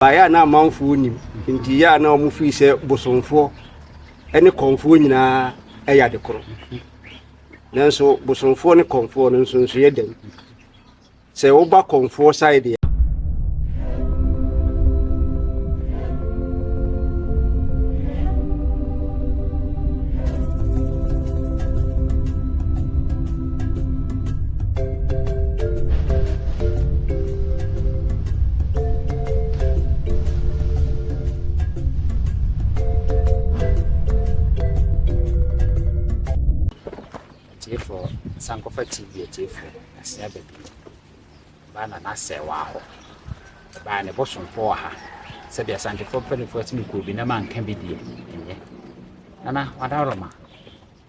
Baeɛ a na amanfoɔ nnim. Nti yɛ a na wɔn firi sɛ bosomfoɔ ne kɔnfoɔ nyinaa yɛ ade korɔ. Nanso bosomfoɔ ne kɔnfoɔ no nsonsoeɛ dɛn? Sɛ woba kɔnfoɔ side deɛ. atiefoɔ sankɔfa tv atiefoɔ asea baabi baa na n'asɛ wɔ ahɔ ɛbaa ne bosomfo wɔ ha sɛdeɛ asantefo mpanimfoɔ atumi kɔɔ bi na manka bi deɛ ɛnyɛ nana wadaroma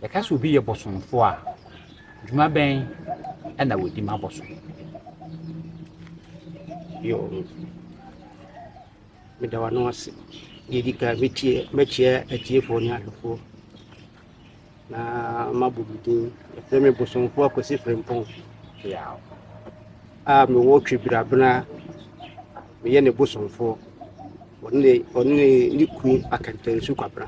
Yɛka sɛ obi yɛ bosomfoɔ a, dwuma bɛn na wɔdi ma bosom? Yo, meda w'ano ase. Deɛ ɛdi kan, mɛkyia atiefoɔ ne ahwɛfoɔ na mabɔ me din. Yɛfrɛ me bosomfoɔ Akwasi Frimpong Kyeaw a mewɔ Twebirabena. Meyɛ ne bosomfoɔ, ɔne ne kunu Akantansu Kwabena.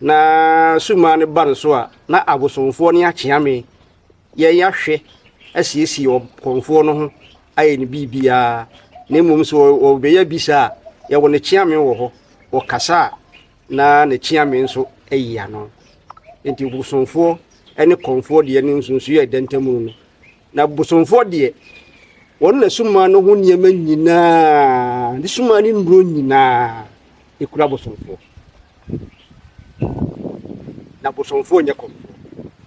na sumaa no ba no so a, na abosomfoɔ ne akyeame yɛn yɛahwɛ asiesie ɔkɔmfoɔ no ho ayɛ ne biribiara na mmom sɛ wɔbɛyɛ bisa a yɛwɔ ne kyeame wɔ hɔ wɔkasa a na ne kyeame nso ayi ano nti bosomfoɔ ne kɔmfoɔ deɛ ne nsunsuiɛ a ɛda ntam no Na bosomfoɔ deɛ, wɔn na sumaa no ho nneɛma nyinaa, ne sumaa ne nnuro nyinaa kura bosomfoɔ. Na bosomfoɔ nyɛ kɔmfoɔ.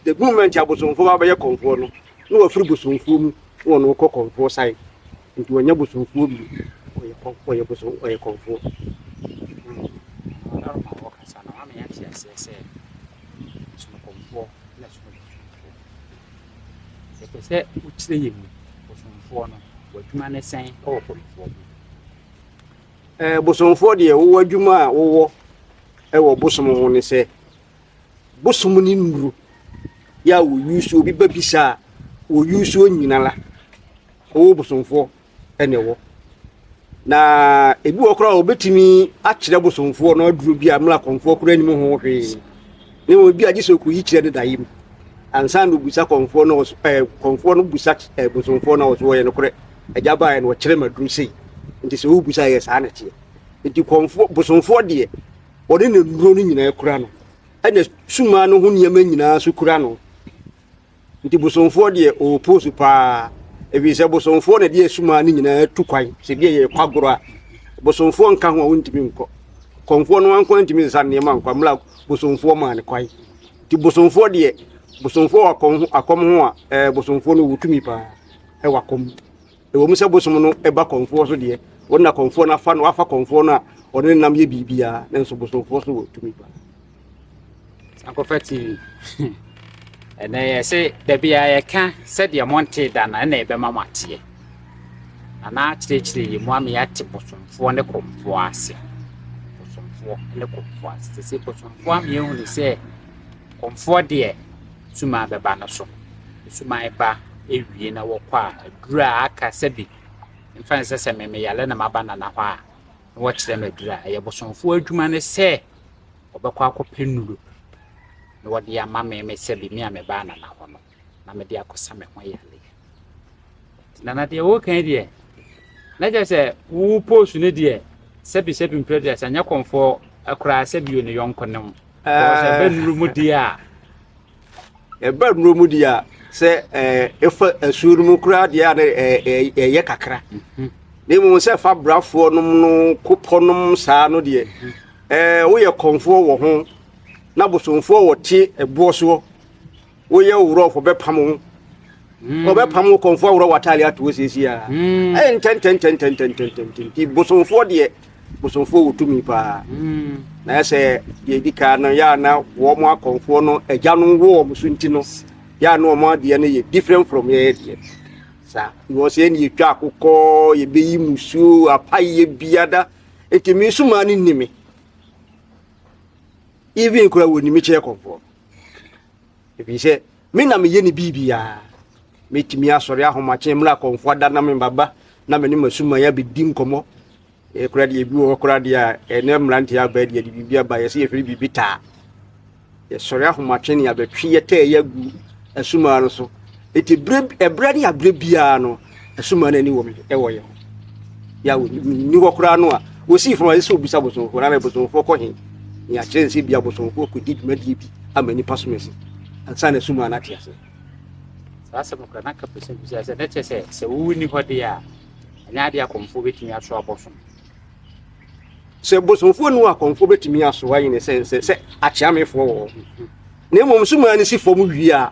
The moment a bosomfoɔ ba bɛyɛ kɔmfoɔ no, na wafiri bosomfoɔ mu na wɔn rekɔ kɔmfoɔ san. Nti wɔnyɛ bosomfoɔ bi, wɔyɛ kɔm wɔyɛ bosom wɔyɛ kɔmfoɔ. Yɛpɛ sɛ wokyerɛ yɛn mu bosomfoɔ no, w'adwuma ne sɛn wɔ bosomfoɔ mu? Ɛɛ bosomfoɔ deɛ wowɔ adwuma a wowɔ wɔ bosom ho ne sɛ bosom ne nnuro yɛ a wɔyi so obi ba bisa a wɔyi so nyina la wowɔ bosomfoɔ na ɛwɔ. Na ebi wɔ koraa a wɔbɛtumi akyerɛ bosomfoɔ no aduro bi a mmra kɔmfoɔ koraa nim ho hwee ne wɔn bi agye sɛ ɔkɔyi kyerɛ ne daeɛ mu ansa na ɔbusa kɔmfoɔ no ɔso ɛɛ kɔmfoɔ no busa ɛɛ bosomfoɔ no ɔso ɔyɛ nokorɛ agya baeɛ no ɔkyerɛ ma aduro sei nti sɛ ɔbusa yɛ saa na ɛteɛ nti kɔmfoɔ bosomfoɔ deɛ ɔne ne nnuro no nyinaa kura no ɛna sumaa no ho nneɛma nyinaa so kura no Nti bosomfoɔ deɛ ɔwɔ pose paa ɛfiri sɛ bosomfoɔ na ɛde asumaa no nyinaa tu kwan sɛ bi a yɛrekɔ agorɔ a bosomfoɔ nka ho a wontumi nkɔ kɔmfoɔ no anko antumi nsa nneɛma nkɔ mmra bosomfoɔ maa no kwan nti bosomfoɔ deɛ bosomfoɔ wɔ akɔm ho akɔm ho a ɛɛ bosomfoɔ no wɔtumi paa ɛwɔ akɔm Ɛwɔ mu sɛ bosom no ba kɔmfoɔ so deɛ, wɔn na kɔmfoɔ no afa no afa kɔmfoɔ no a ɔne ne nam yɛ biribiara, nanso bosomfoɔ so wɔ tumi pa. Sankɔfa TV. Ɛnɛ yɛ se dabi a yɛka sɛdeɛ montee da no ɛna ɛbɛma mo ateɛ. Anaa kyerɛkyerɛ yɛ mu ama yɛate bosomfoɔ ne kɔmfoɔ ase. Bosomfoɔ ne kɔmfoɔ ase. Sɛ sɛ bosomfoɔ ama yɛhunu sɛ kɔmfoɔ deɛ sum a bɛba no so. Suman ba ewie na wɔkɔ a, edur a aka sɛ bi mfa nsɛ sɛ me meyare na maba Nana hɔ a, na wɔkyerɛ me edur a ɛyɛ bosomfoɔ adwuma ne sɛ wɔbɛkɔ akɔpɛ nnuru na wɔde ama me me sɛ bi me a mebaa Nana hɔ no na mede akɔsa me ho yare. Na na deɛ woka yi deɛ, na kyerɛ sɛ wo post no deɛ sɛbi sɛbi mprɛ deɛ sɛ nyɛ kɔmfoɔ koraa sɛbi yɛ ne yɔnko ne ho. Because ɛbɛ eh. nnuro mu deɛ a. Ɛbɛ nnuro mu deɛ a sɛ eh, ɛfa asuo no mu koraa deɛ a eh, ɛyɛ kakra. Mhm. Na mmom sɛ fa brafoɔ nom no kopɔ nom saa no deɛ mhm. woyɛ kɔmfoɔ wɔ ho na bosomfoɔ wɔte ɛboɔ soɔ Woyɛ wo wurɔfo bɛpam wo. Hmm. Ɔbɛpam wo kɔmfo aworɔ w'ataade ato wo siesie a. Hmm. Ɛyɛ ntɛntɛntɛntɛntɛntɛntɛntɛn nti bosomfoɔ deɛ bosomfoɔ wɔ tumi paa. Hmm. Na yɛ sɛ deɛ ɛdi kan no yɛ a na wɔn akɔmfoɔ no agya no wɔ wɔn so nti no yɛ a na wɔn adeɛ no yɛ different from yɛyɛ deɛ. Saa because yɛn ne yɛtwa akokɔ yɛbɛyi musuo apayɛ biada nti me nso maa ne nni me even kura wɔ nimi kyerɛ kɔmfoɔ. ebi sɛ me na meyɛ ne biribiara mɛtumi asɔre ahomakye mmerɛ akɔmfo ada na me baba na me ne masuman abɛdi nkɔmmɔ ɛkora deɛ ebi wɔ hɔ kora deɛ a ɛnɛ mmeranteɛ abaa deɛ de biribi aba yɛsɛ yɛfiri biribi taa yɛsɔre ahomakye ne abɛtwe yɛtɛɛ yɛ agu asumaa no so ɛti ɛberɛ ne aberɛ biara no ɛso maa n'ani wɔm ɛwɔ yɛ ho yɛ a wɔni hɔ koraa no a wɔsii fam a ɛsɛ obisa bosomfoɔ na bosomfoɔ kɔ he ne akyerɛ ne sɛ bia bosomfoɔ kɔdi dwumadie bi ama nnipa som asi ansa na ɛso maa no ate ase saa asɛm kora na ka pɛ sɛ bisa sɛ na kyerɛ sɛ sɛ wonni hɔ deɛ a ɛnyɛ adeɛ akɔmfoɔ bɛtumi aso abɔsom sɛ bosomfoɔ nu akɔmfoɔ bɛtumi aso ayɛ ne sɛ sɛ sɛ akyeamefoɔ wɔ hɔ na mmom so maa no si fam wie a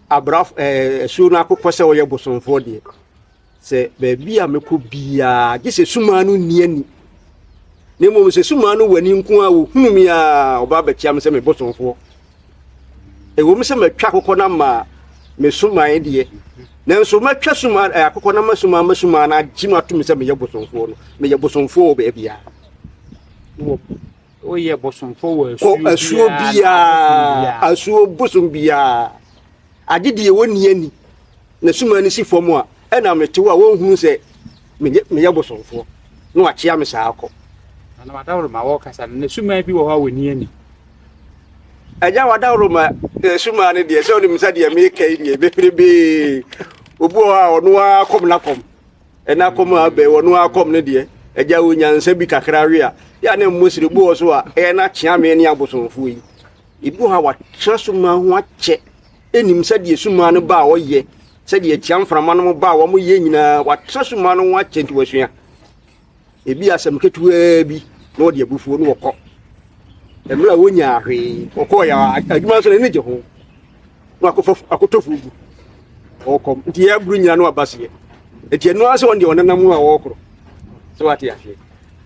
Abraf ɛɛ asuo no akokɔ sɛ ɔyɛ bosomfoɔ deɛ sɛ baabi a mɛkɔ biara gye sɛ sumaa no nni ani na mmom sɛ sumaa no wɔ ani nko a wɔhunu me a ɔba bɛkyia me sɛ me bosomfoɔ ɛwom sɛ matwa akokɔ no ama me sumae deɛ nanso matwa suma eh, akokɔ no ama sumaa ma sumaa no agye me ato me sɛ meyɛ bosomfoɔ no meyɛ bosomfoɔ wɔ baabiara Woyɛ bosomfo wɔ asuo biara. Asuo biara. Asuo bosom biara. Agye deɛ wɔnni ani. Na suma no si fam a, ɛna mete hɔ a wɔnhunu sɛ meyɛ bosomfoɔ. Na wakyea me saa akɔ. Na wadaworo ma wɔkasa no, na suma bi wɔ hɔ a wɔnni ani. Agya wadaworo ma eh, suma no deɛ, sɛ ɔnim sɛ deɛ meka yi deɛ, beperebee. Obi wɔ hɔ a ɔno ara kɔm na kɔm. Ɛna akɔm a abɛn wɔ no ara kɔm no deɛ, agya wɔ nyansa bi kakra we a, yɛ a na mmɔ sire bu wɔ so a, ɛyɛ na kyeame ne abosomfoɔ yi. Edu ha a wɔatena sumaa ho akyɛ, ɛnim sɛdeɛ sumaa no ba a wɔyɛ, sɛdeɛ atia mframa no ba a wɔyɛ nyinaa, wɔatena sumaa no ho akyɛ nti wɔasua. ebi asɛm ketewaa bi na ɔde abufuo no ɔkɔ mmerɛ a wɔnyaa hwee ɔkɔɔ yɛ adwuma nso n'ani gye ho na akɔfa akɔtɔ fuo gu ɔkɔm nti yɛ aburu nyina no aba seɛ nti ɛno ara sɛ ɔno deɛ ɔnenam ho a ɔrekoro sɛ wate aseɛ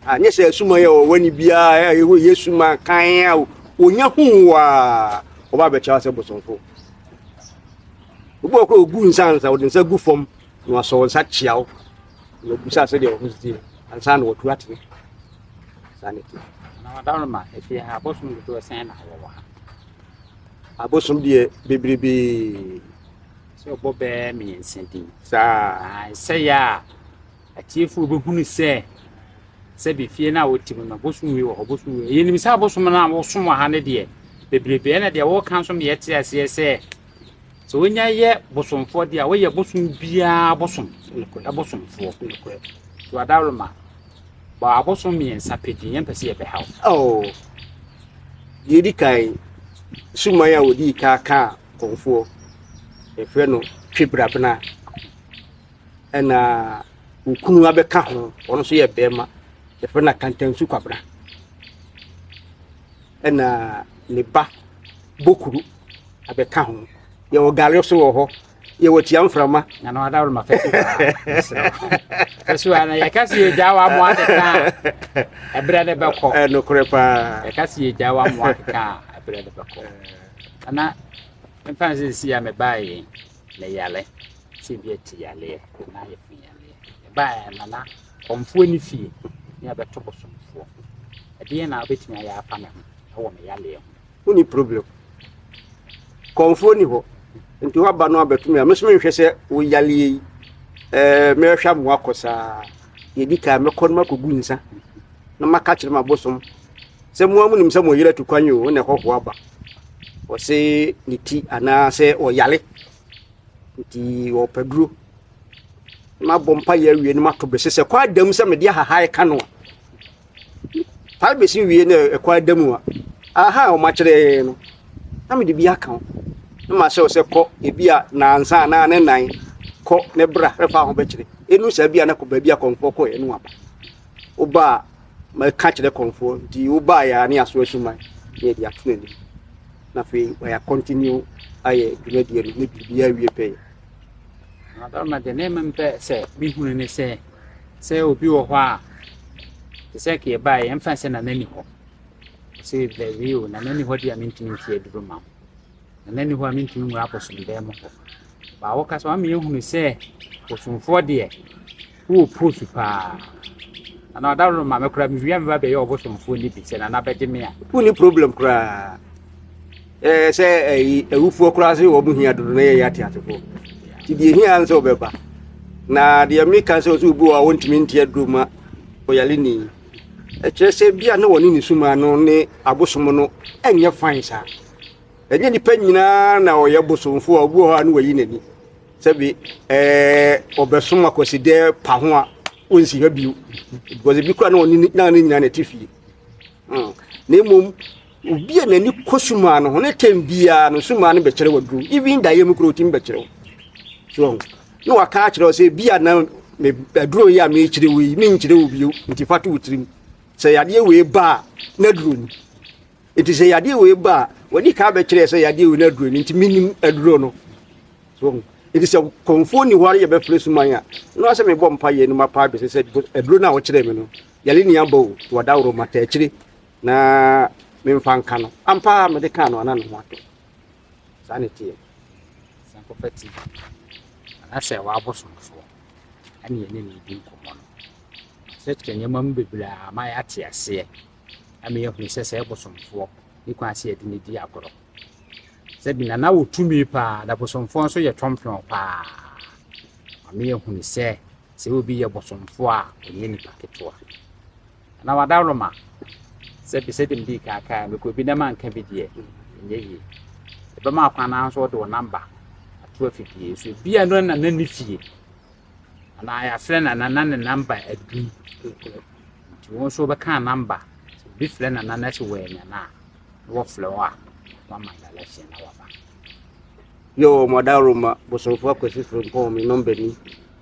anyɛ sɛ asuma yɛ ɔwɔ ne biara ɛwɔ yɛ suma kan a ɔnya ho a ɔba abɛkyɛ sɛ bosomfo obi ɔkɔ ɔgu nsa nsa ɔde nsa gu fam na wasɔ nsa kyea wo wɔbisa sɛdeɛ wɔn ho si teɛ ansa na wɔtu atene saa ne teɛ na wadaroma ɛfie ha abosom dodoɔ sɛn na wɔwɔ ha abosom deɛ bebrebe sɛ ɔbɔ bɛɛ mmiɛnsa din saa ɛsɛyɛ a atiefoɔ bɛhunu sɛ sɛbi fie no a wɔte mu no abosom wei wɔ hɔ abosom wei yɛnim sɛ abosom no a wɔsom wɔ ha no deɛ bebrebe ɛna deɛ wɔka nso meyɛ te aseɛ sɛ Sɛ wonya yɛ bosomfoɔ deɛ a, woyɛ bosom biara bosom bosomfoɔ. To adawroma bɔ abosom mmiɛnsa pɛ din, yɛmpɛ sɛ yɛbɛha wo. Oh, deɛ ɛdi kan, suman a wɔdii ka kaa kɔnfoɔ, yɛfrɛ no twebrabena, ɛna okunu abɛka ho, ɔno nso yɛ bɛrima, yɛfrɛ no akantansu kwabena, ɛna ne ba bokuru. abɛka ho yɛwɔ gare so wɔ hɔ yɛwɔ tia mframa na na ɔda roma fɛsi fɛsi wa na yɛka si yɛ gya wa mo akeka ɛbrɛ ne bɛkɔ ɛnokorɛ paa yɛka si yɛ gya wa mo akeka ɛbrɛ ne bɛkɔ ɛna mfa n sɛ si a mebaeɛ na yale sɛ bi ati yaleɛ na ayɛ fi yaleɛ ɛbaeɛ na na kɔmfoɔ ne fie ne abɛto bosomfoɔ ɛdeɛ na wobɛtumi ayɛ afa me ho ɛwɔ me yaleɛ ho wonni problem. Kɔmfoɔ nni hɔ. Nti woaba no abɛto me a, me nso menhwɛ sɛ wo yareɛ yi, ɛɛ mɛhwɛ ama wakɔ saa. Yɛdi kan mɛkɔ no makɔgu nsa na maka kyerɛ m'abosom sɛ mo a monim sɛ mo yere atu kwan yi o, na ɛhɔhoɔ aba. Wɔse ne ti anaasɛ ɔyare nti wɔpɛ duro. Mabɔ mpa yɛ awie no mato bese sɛ kɔ adam sɛ mede ahahae ka no a Taa bɛsi wie na ɛkɔ ada mu a, aha a wɔakyerɛ no, na mede bi aka ho. Na mahyɛ wo sɛ kɔ ebi a nansa anaa ne nan kɔ ne bra na fa ho bɛkyerɛ. Ɛnu saa bi a na kɔ baabi a kɔmfoɔ kɔɛ no aba. Woba a, mɛka kyerɛ kɔmfoɔ nti woba yɛ a ne aso asuman ne yɛde ato n'anim. Na afei wɔyɛ continue ayɛ dwumadie no ne biribiara wie pɛyɛ. Adaroma deɛ na mmom pɛ sɛ mehunu ne sɛ. sɛ obi wɔ hɔ a te sɛ ka yɛbaeɛ yɛmfa sɛ nana ni hɔ sɛ dabi o nana ni hɔ deɛ a mentumi nte aduro ma wo nana ni hɔ a mentumi nwura abosomdɛɛ mu hɔ baa woka sɛ wama yɛhunu sɛ bosomfoɔ deɛ wowɔ pos paa ana ɔdaworo ma me koraa mewia meba bɛyɛ ɔbosomfoɔ no bi sɛ nana bɛgye me a wonni problem koraa Ɛɛ sɛ ɛyi awufoɔ koraa sɛ wɔn hia dodo na yɛyɛ ateasefoɔ nti deɛ hia nsɛ wɔbɛba na deɛ meka sɛ ɔsɛ obi wɔ a wɔntumi nte aduro ma ɔyare ni ɛkyerɛ sɛ bi a na wɔne ne suma no ne abosom no ɛnyɛ fan saa ɛnyɛ nipa nyinaa na ɔyɛ bosomfoɔ a obi wɔ hɔ a ne wayi n'ani sɛbi ɛɛ ɔbɛsom akwasidɛ pa ho a wɔnsi ha bio because ebi kora na ɔne ne nyinaa na ɛte fie hmm. na mmom Obi a n'ani kɔ sum ano ho ne tɛm biara no sum ano bɛkyerɛ waduru even daeɛ mu kura otumi bɛkyerɛ wo so ɔho na waka akyerɛ wo sɛ bi a na aduro yi a mekyerɛ wo yi menkyerɛ wo bio nti fa to wo tirim sɛ yadeɛ wei ba a na aduro ni nti sɛ yadeɛ wei ba a wadi ka bɛkyerɛ sɛ yadeɛ wei na aduro ni nti menim aduro no so ɔho nti sɛ kɔmfoɔ ni hɔ ara yɛbɛfrɛ suman a na wasɛ mebɔ mpa yɛ no mapa adwesɛ sɛ aduro no a wɔkyerɛ me no yɛle ne aba o to adaworo mataakyire Na memfa nka no, ampa ara mede kaa no a na ne ho atɔ. Saa na ɛteɛ. San kɔfa ti anaasɛ w'abosomfoɔ ɛne yɛne ne redi nkɔmmɔ no. Kyerɛkyerɛ nneɛma mu bebree a ma yɛate aseɛ ama yɛahunu sɛ sɛ ɛbosomfoɔ ne kwan sɛ yɛde ne di agorɔ. Sɛ bi na na wɔ tumi paa na bosomfoɔ nso yɛ twɔmpwɔn paa. Ma me yɛahunu sɛ sɛ obi yɛ bosomfoɔ a ɔnyɛ nipa ketewa. Anaa w'adaworoma sɛ bi sɛdeɛ medii kan kaeɛ no mekɔ bi na manka bi deɛ ɛnyɛ yie. Ɛbɛma akwan no ara nso wɔde wo namba ato afidie so. Ebi a ɛno na na ne fie anaa yɛafrɛ nana na ne namba adum. Nti wo nso wobɛka namba sɛ obi frɛ nana na sɛ wɔanya no a na wɔfrɛ wo a wama direction na waba. Yo, Madaworoma, Bosomfo Akwasi Frimpong, me nɔmba ni.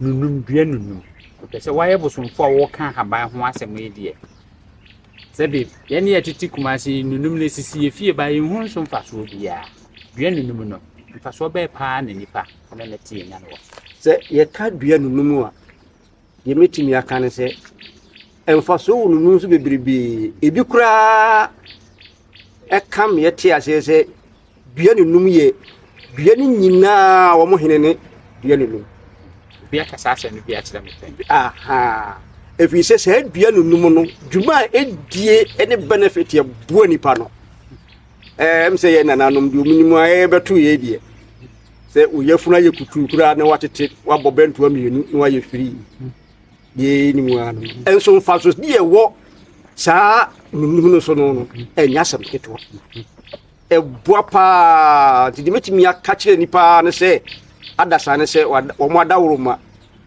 nunum dua nunum. Kyerɛ sɛ wɔayɛ bosomfo a wɔka ahaban ho asɛm yi deɛ. Sɛbe yɛn a yɛtete Kumase yi nunum no sisi yɛn fie baa yɛnhu so mfasoɔ biara. Dua nunum no, mfasoɔ bɛn paa na nnipa ne no te nya no wɔ so? Sɛ yɛka dua nunum a, deɛ mɛtumi aka ne sɛ mfasoɔ wɔ nunum so bebrebee. Ebi koraa ɛka me yɛte aseɛ sɛ Dua no num yɛ dua no nyinaa wɔn hene ne dua no num. Obi aka saa asɛm no bi akyerɛ me pɛ. Aha. Ɛfiri sɛ saa dua no num no, dwuma a ɛdie ne benefit ɛboa nipa no. Ɛm sɛ yɛ nananom deɛ ɔmunim a ɛbɛto yɛ deɛ. Sɛ oyɛfunu ayɛ kutuu koraa na watete wabɔ bɛntoa mmienu na wayɛ firii. Deɛ ɛnim a no. Nso mfasodeɛ ɛwɔ saa num no so no, ɛnyɛ asɛm ketewa. Ɛboa pa ara. Nti deɛ mɛtumi aka kyerɛ nnipa ara ne sɛ adasa ne sɛ wɔn adaworoma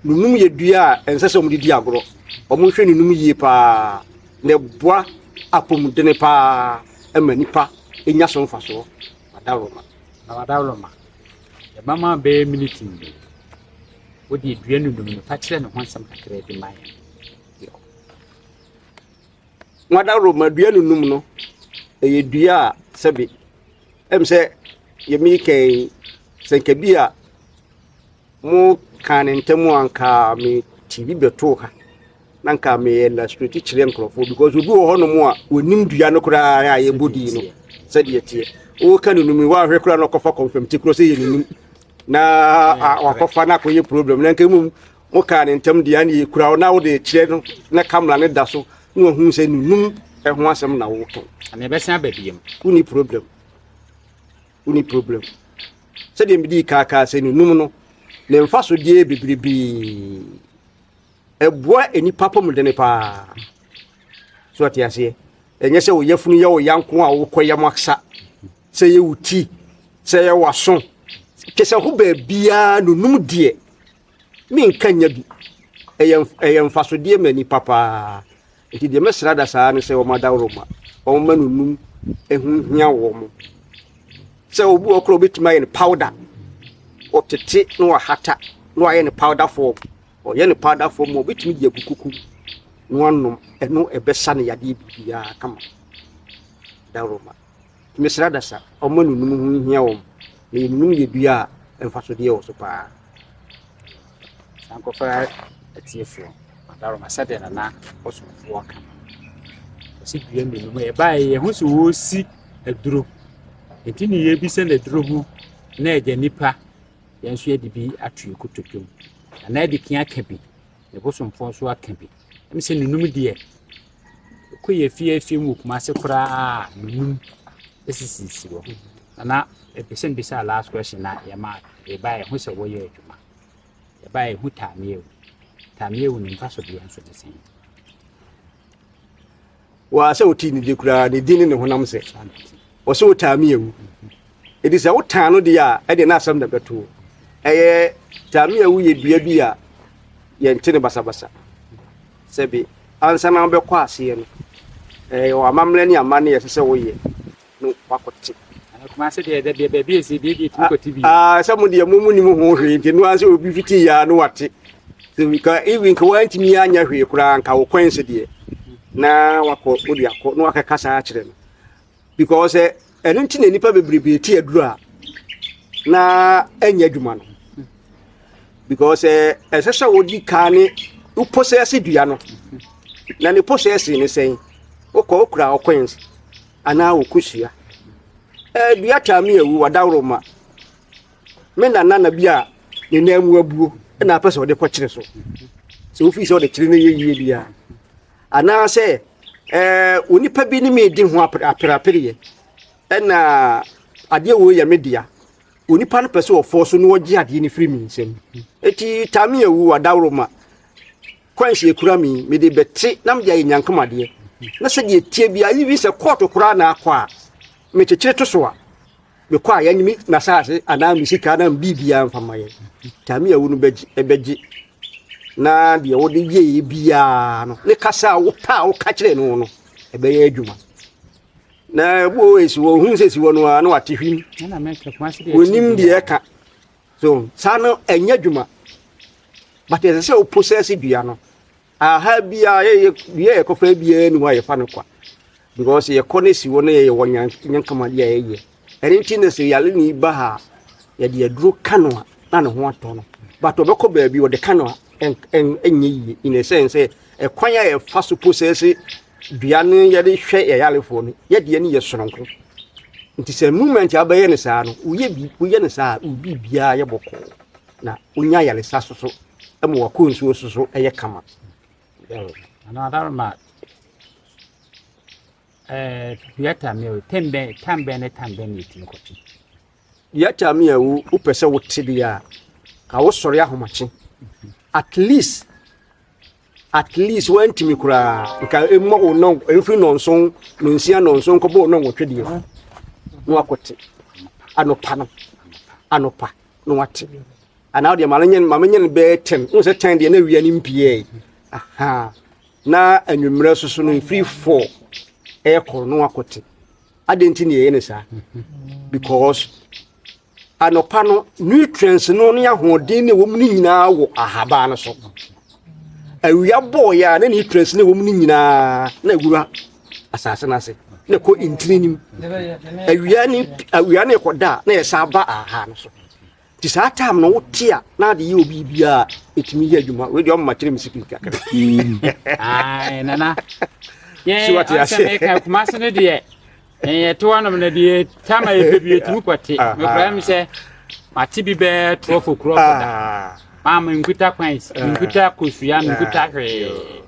no num yɛ dua a ɛnsɛ sɛ wɔde di agorɔ. Wɔnhwɛ ne num yie pa ara na ɛboa apɔmuden pa ara ɛma nnipa nya so mfasoɔ. Adaworoma. Na w'adaworoma ɛma ma bɛyɛ miniti mmienu. Wode dua no num no fa kyerɛ ne ho asɛm kakra bi ma yɛn. Nwadaroma dua no num no, ɛyɛ dua a sɛbe ɛm sɛ deɛ meekɛn yi, sɛ nka bi a mokaa no ntɛm a nka mete bi bɛtoo ha na nka meyɛ illustrate kyerɛ nkurɔfoɔ because obi wɔ hɔnom a wɔnim dua no koraa a yɛbɔ din no sɛdeɛ teɛ woka no num yi woahwɛ koraa na ɔkɔfa kɔmfam ti korɔ sɛ yɛ ne num na wakɔfa no akɔyɛ problem na nka mmom Wokaa ne ntam deɛ ɛne ɛkura wo na wode kyerɛ no na kamera ne da so na wahunu sɛ nunum ɛho asɛm na woka. Ana ɛbɛsan aba biam? Woni problem. Woni problem. Sɛdeɛ medi kaakaa sɛ nunum no ne mfasodeɛ bebrebe. Ɛboa nnipa pɔmudene paa. So ate aseɛ? Ɛnyɛ sɛ wo yafunu yɛ wo ya nko a wokɔ yam aksa. Sɛ yɛ wo ti, sɛ yɛ w'aso. Kyɛ sɛ ho baabiara nunum deɛ menka nya bi. Ɛyɛ ɛyɛ mfasodeɛ ma nipa paa. Nti deɛ mɛsrɛ adasaa ne sɛ wɔn adaworoma, wɔn ma no num. Ɛho hia wɔn. Sɛ obi wɔ korɔ obɛtumi ayɛ no powder. Ɔtete na wahata na wayɛ no powder form. Ɔyɛ no powder form a obɛtumi de agu kuku mu na wanom. Ɛno ɛbɛsa no yadeɛ bibiara kama. Adaworoma. Mesrɛ adasa, wɔn a nunum ho hia wɔn, na yɛ nunum yɛ dua a mfasodeɛ wɔ so pa ara. Saa nkɔfra atiefoɔ. Madaroma sɛdeɛ na na ɔsomfoɔ ka no. Ɔsi dua mmienu mu. Yɛbaeɛ yɛ ho sɛ wɔresi aduro. Nti ne yɛbisa no aduro ho na agya nipa yɛn nso yɛde bi ato yɛ kotodwom. Na na ɛde kea aka bi. Ne bosomfoɔ nso aka bi. Ɛmi sɛ nunum deɛ Kor yɛ fiafia mu wɔ Kumase koraa nnum sisi hɔ. Nana epɛ sɛ mbisa last question na yɛma ebae ehu sɛ wɔyɛ adwuma. Ebae ehu Tameawu. Tameawu ne mfaso deɛ nso ne sɛn? Wɔasɛ wotii ne de koraa ne din ne ne honam sɛ wɔsɛ wotaa meawu. Edi sɛ wotaa no deɛ a ɛde n'asɛm na bɛto. Ɛyɛ tameawu yɛ dua bi a yɛnte ne basabasa. Sɛbe, ansa na wobɛkɔ aseɛ no, ɛwɔ amammerɛ ne amanne a ɛsɛ sɛ woyɛ no wakɔte. Kumase deɛ ɛdɛ deɛ baabi esi deɛ deɛ tumi kɔte bi. Aa sɛ mo deɛ mo mo nim ho hwee nti no ansa obi fiti ya no wate. Sɛ bi ka even ka wantumi anya hwee koraa nka wo kwan se deɛ na wakɔ wode akɔ na wakɛkasa akyerɛ no. because eh, ɛno nti na nnipa bebrebe ti aduru a na ɛnyɛ adwuma no because eh, ɛsɛ sɛ wodi kaa ne wo posɛse dua no na ne posɛse ne sɛn wokɔ wokura ɔkɔns anaa wokosua eh, dua taa me awu wadaworo ma me nana na bi a ne nan mu abuo na apɛ sɛ ɔde kɔkyere so sɛ wofii sɛ ɔde kyere no yɛ yie biara Anaasɛ ɛɛ onipa bi ne me redi ho aperapereɛ ɛna adeɛ wei yɛ me dea onipa no pɛ sɛ ɔfɔ so na ɔgye adeɛ no firi me nsam eti taame awu adaworoma kwanhyɛ ekura me mede bɛte na mede ayɛ nyankamadeɛ na sɛdeɛ tie bia even sɛ kɔɔto koraa na akɔ a metekyere to so a mekɔ a yɛnye me m'asaase anaa me sika anaa biribiara mfa ma yɛn tame a wo no bɛgye na deɛ wode yɛɛ biara no ne kasa a wopɛ a woka kyerɛ no no ɛbɛyɛ adwuma na bo esi wɔ hu sɛ si wɔ no a na wate hwim wonim deɛ ɛka so saa no ɛnyɛ adwuma but ɛsɛ sɛ wo possess dua no Aha biara yɛyɛ bia yɛkɔ fa biara ni hɔ a yɛfa no kwa because yɛkɔ no si hɔ na yɛyɛ wɔ nyankamadeɛ a yɛyɛ ɛno nti na sɛ yare ne ba ha a yɛde aduro ka no a na ne ho atɔ no but ɔbɛkɔ baabi ɔde ka no a ɛnyɛ yie in a sense sɛ ɛkwan a yɛfa so posɛse dua no yɛde hwɛ yɛyarefoɔ no yɛdeɛ no yɛ soronko nti sɛ movement a wobɛyɛ no saa no woyɛ bi woyɛ no saa a wobi biara yɛ bɔkɔɔ na wonya yaresa so so ma wakɔ nsuo so so yɛ kama. Ana adaroma ɛɛ yɛta mi o tem bɛn tam bɛn ne tam bɛn na etimi kɔtwe. Yɛta mi a wo wopɛ sɛ wote deɛ a ka wosɔre ahomakye at least at least wantumi koraa nka ɛmmɔ wo nɔ ɛmfiri nɔnso nonsia nɔnso nkɔbɔ wo nɔ nwɔtwe deɛ na wakɔte anɔpa no anɔpa na wate Ana wodeɛ ma menye ma menye no bɛyɛ tɛn wohu sɛ tɛn deɛ na awia no mpiɛe aha na anwummerɛ so so no ɛfiri fɔ ɛyɛ kɔrɔ no wakɔte adɛn nti ne ɛyɛ ne saa because anɔpa no nutrients no ne ahoɔden ne wɔm no nyinaa wɔ ahabaa no so awia bɔɔyɛ a na nutrients ne wɔm no nyinaa na awura asase no ase na ɛkɔ ntini nim awia ne awia ne ɛkɔda a na ɛsan ba aha no so Nti saa time no wote a na ade yɛ obi bi a ɛtumi yɛ adwuma wei deɛ ɔmma kyerɛ me secret kakra mm. nana yɛsɛmeka kuma se no deɛ yɛto anom no deɛ tama yɛpɛ bi ɛtumi kɔte ah, mekora ah. me sɛ mate bi bɛɛ trɔfo kurɔfo da ah. maa menkuta kwans menkuta kosua menkuta hwee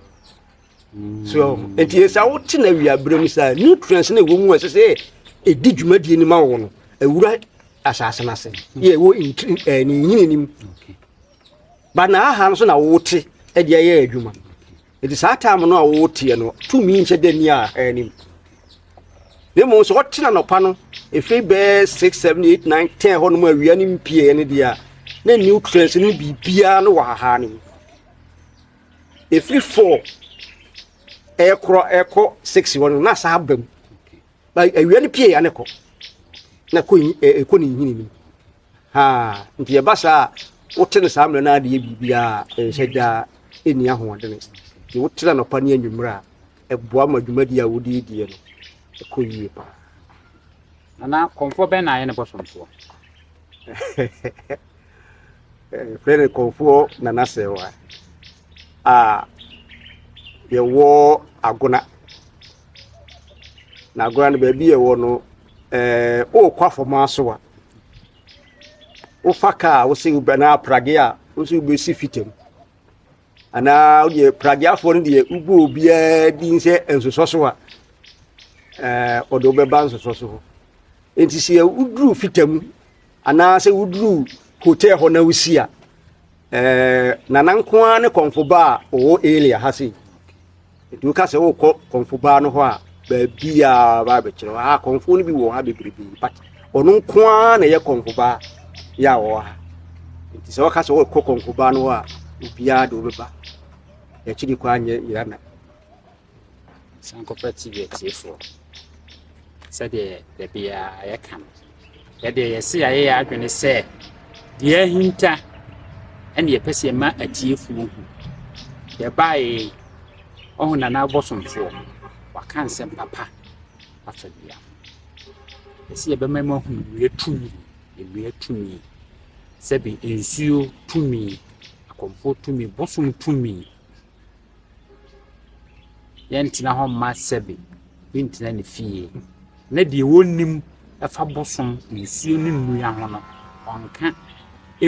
so nti yɛ sɛ wote na awiaberɛ mu saa nutrients na ɛwɔ mu a ɛsɛ sɛ ɛdi dwumadie no ma wo no ɛwura asase no ase yɛ ɛwɔ eh, ne nyini no mu ba na aha no so na wote ɛde ayɛ adwuma nti saa time no a woteɛ no tumi nhyɛ da ni a anim na mmom sɛ wɔte na nɔpa no ɛfiri bɛɛ 6 7 8 9 10 hɔ no mu awia no mpieɛ no deɛ a na nutrients no biribiara no wɔ hahaa no mu ɛfiri four ɛkorɔ ɛkɔ six hɔ no na saa ba mu ba awia no pie ya ne kɔ na kɔ ɛkɔ ne nhini no haa nti ɛba saa a wote no saa mmerɛ no adeɛ biribiaa nhyɛ gyaa ɛnni ahoɔdene nti wotena nɔpa ne anwummerɛ a ɛboa ma dwumadi a wodie die no ɛkɔ yie paa nana kɔmfoɔ bɛn na ayɛ ne bɔsomsoɔ Yɛfrɛ no Kɔmfoɔ Nana Serwaa a yɛwɔ Agona. Na Agona no baabi a ɛwɔ no, ɛɛ wokɔ Afɔmaa so a, wofa kaa a wose wobɛ na aprage a wose wobɛsi fitam. Anaa wodeɛ prageafoɔ no deɛ wobɔ obiara din sɛ nsosɔ so a, ɛɛ ɔde wobɛba nsosɔ so hɔ. Nti sɛ woduru fitam Anaa sɛ woduru hotel hɔ na wosi a, ɛɛ nana nko ara ne kɔnfo ba a ɔwɔ area ha sei. Nti woka sɛ wokɔ kɔnfo baa no hɔ a, baabi a ba abɛkyerɛ hɔ. Ah, kɔnfo no bi wɔ ha bebrebe, but ɔno nko ara na ɛyɛ kɔnfo baa yɛ a ɔwɔ ha. Nti sɛ woka sɛ wokɔ kɔnfo baa no hɔ a, obiara de wobɛba. Akyiri kɔ anyɛ yɛana. Sankɔpɛ TV atiefoɔ, sɛdeɛ da biara yɛka no, yɛdeɛ yɛse yɛayɛ yɛn adwene sɛ deɛ ahinta ɛne yɛpɛ sɛ yɛma atiefoɔ hu. Yɛbaeɛ ɔho Nana Abosomfoɔ, waka nsɛm papa afa dua ho. Yɛse yɛbɛma mu ahu nnua tumi, nnua tumi, sɛbi nsuo tumi, akɔmfoɔ tumi, bosom tumi, Yɛntena hɔ mma sɛbe bi ntena ne fie, na deɛ ɔnnim fa bosom nsuo ne nnua ho no, ɔnka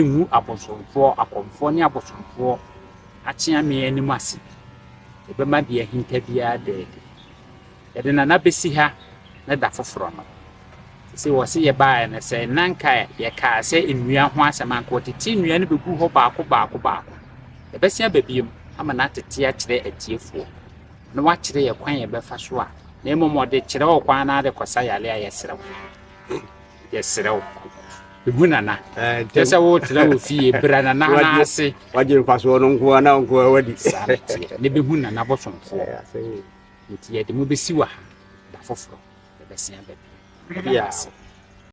ngu abosomfoɔ, akɔmfoɔ ne abosomfoɔ akyeameɛ anim ase. Ɛbɛma deɛ ahinta biara ada adi. Yɛde nana besi ha ne da foforɔ no. Sese wɔse yɛbaeɛ no sɛ na nka yɛkaa sɛ nnua ho asɛm anka wɔtete nnua no bɛgu hɔ baako baako baako. Yɛbɛse aba biom ama no atete akyerɛ atiefoɔ na wakyerɛ yɛ kwan yɛbɛfa so a na mmom ɔde kyerɛ ɔkwan na ade kɔsa yare a yɛsrɛ wo. Yɛsrɛ wo, hu Nana. Kyerɛ sɛ wotena wɔ fie, bra Nana nan ase. Wagye mfasoɔ no nko ara na nko ara wadi. Saa na ɛteɛ. Na ɛbɛhu Nana bosomfoɔ. Nti yɛde mo bɛsi wɔ ha, da foforɔ yɛbɛsen abɛpere. Yɛda mo ase.